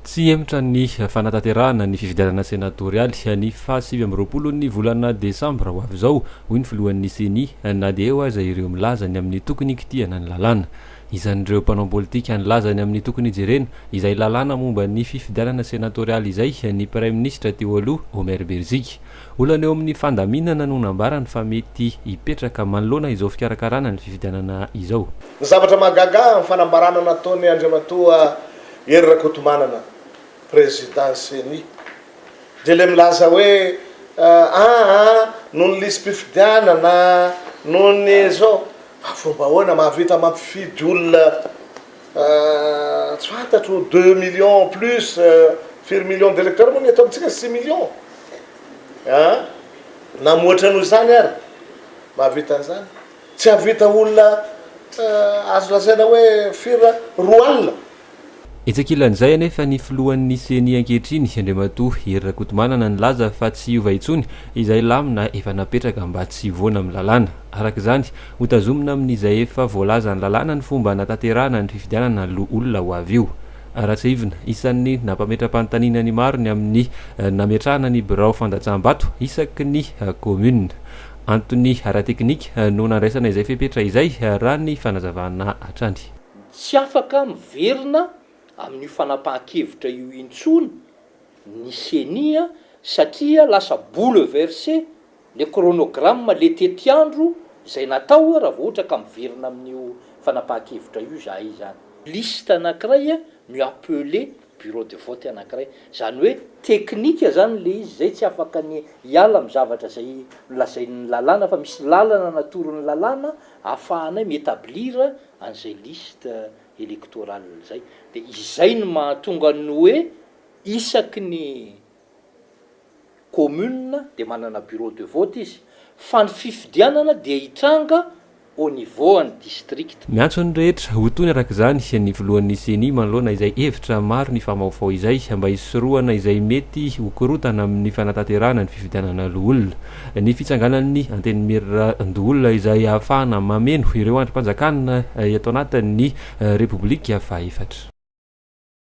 Tsy hihemotra ny fanatanterahana ny fifidianana senatorialy ny faha sivy amby roapolo ny volana desambra ho avy izao, hoy ny filohan'ny Ceni, na dia eo aza ireo milaza ny amin'ny tokony hikitihana ny lalàna. Isan'ireo mpanao politika nilaza ny amin'ny tokony hijerena izay lalàna momba ny fifidianana senatorialy izay ny praiminisitra teo aloha, Omer Berziki. Olana eo amin'ny fandaminana no nambarany fa mety hipetraka manoloana izao fikarakarana ny fifidianana izao. Ny zavatra mahagaga amin'ny fanambarana nataon'i Andriamatoa Hery Rakotomanana, Président Ceni, dia ilay milaza hoe aa noho ny lisi-pifidianana, noho ny izao. Fa fomba ahoana mahavita mampifidy olona tsy fantatro deux millions plus firy millions d'électeurs moa ny eto amintsika? Six millions an! Na mihoatra noho izany ary mahavita an'izany. Tsy hahavita olona azo lazaina hoe firy raha roa alina? Etsy ankilan'izay anefa ny filohan'ny Ceni ankehitriny, Andriamatoa Hery Rakotomanana nilaza fa tsy hiova intsony izay lamina efa napetraka mba tsy hivoana amin'ny lalàna. Araka izany, hotazomina amin'izay efa voalazan'ny lalàna ny fomba hanatanterahana ny fifidianana loholona ho avy io. Ratsiahivina, isan'ny nampametram-panontaniana ny maro ny amin'ny nametrahana ny birao fandatsaham-bato isaky ny kaominina. Antony ara-teknika no nandraisana izay fepetra izay, raha ny fanazavana hatrany. Tsy afaka miverina amin'io fanapahan-kevitra io intsony ny Ceni satria lasa bouleverse le chronogramme, le tetiandro izay natao raha vao ohatra ka miverina amin'io fanapahan-kevitra io izahay izany. Liste anankiray no i appeler bureau de vote anankiray, izany hoe teknika izany ilay izy, izay tsy afaka ny hiala amin'ny zavatra izay nolazain'ny lalàna fa misy lalana natoron'ny lalàna ahafahanay mi-etablir an'izay liste electorale izay, dia izay no mahatonga ny hoe isaky ny. commune dia manana bureau de vote izy fa ny fifidianana dia hitranga au niveau an'ny district. Miantso ny rehetra ho tony araka izany ny filohan'ny Ceni manoloana izay hevitra maro nifamaofao izay mba hisorohana izay mety ho korontana amin'ny fanatanterahana ny fifidianana loholona. Ny fitsanganan'ny Antenimierandoholona izay ahafahana mameno ireo andrim-panjakana eto anatin'ny Repoblika fahefatra.